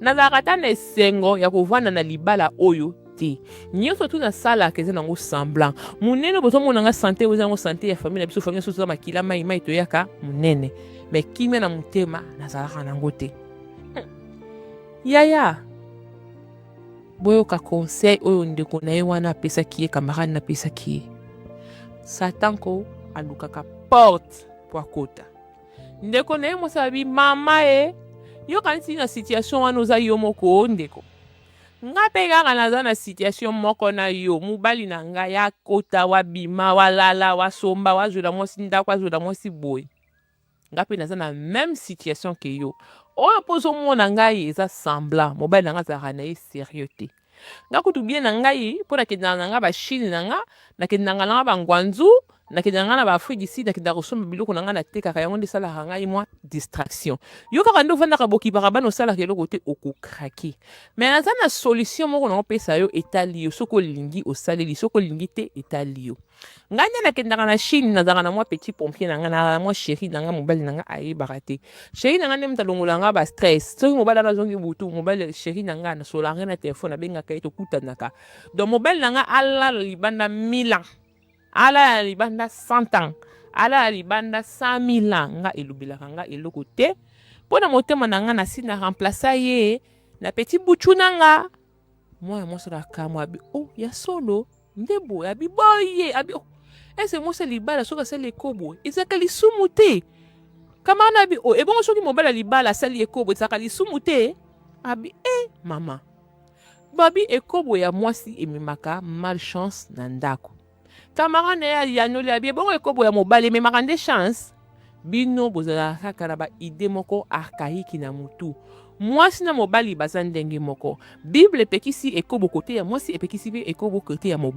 Nazalaka ata na esengo ya kovanda na libala oyo te. Nionso tout nasalaka eza nango semblant. Munene bozomona nga sante eza nango sante ya famille na biso, famille na biso toza makila mayi mayi toyaka munene. Mais kimia na motema nazalaka nango te. Hmm. Yaya, boyoka conseil oyo ndeko na ye wana apesaki ye, camarade napesaki ye. Satan ko alukaka porte po akota. Ndeko naye mwasi abi mama e eh, yo kanisi na situation wana oza yo moko oh, ndeko nga mpe kaka naza na situation moko na yo mobali na ngai akota wabima walala wasomba wazwela mwasi ndako azwela mwasi boye nga mpe naza na meme situation ke yo oyo mpo ozomona ngai eza semblant mobali na ngai azalaka na ye serieux te Nga kutu bien na ngai po nakendaka na nga ba chine na nga nakendaka na nga ba ngwanzu nakendaka nga na ba afrique du sud nakendaka kosomba biloko na nga natekaka yango nde esalaka ngai mwa distraction yo kaka nde ofandaka bokipaka bana osalaka eloko te okokrake me naza na solution moko na opesa yo etali yo soki olingi osaleli soki olingi te etali yo ngai nde nakendaka na chine nazalaka na mwa petit pompier na ngai na mwa sheri na ngai mobali na ngai ayebaka te sheri na ngai nde moto alongola ngai ba stress soki mobali ana azongi butu mobali sheri na ngai nasolaka ngai na telefone abengaka ye tokutanaka donc mobali na ngai alala libanda mila alala libanda cent ans alala libanda cent mille ans ngai elobelaka ngai eloko te mpo na motema na ngai nasi na remplace ye na petit butu na ngai mwana mwasi wana akamwa abi o oh, ya solo nde boye abi boye abi oh, ese mwasi ya libala soki asali ekobo ezalaka lisumu te kama wana abi o oh, ebongo soki mobali ya libala asali ekobo ezalaka lisumu te abi e eh, mama babi ekobo ya mwasi ememaka malchance na ndako Camarade na ye ayanoli abi ebongo ekobo ya mobali ememaka nde chance bino bozalaka kaka na ba idee moko archaïque na mutu mwasi na mobali baza ndenge moko bible epekisi ekobo kote ya mwasi epekisi pe ekobo kote ya mobali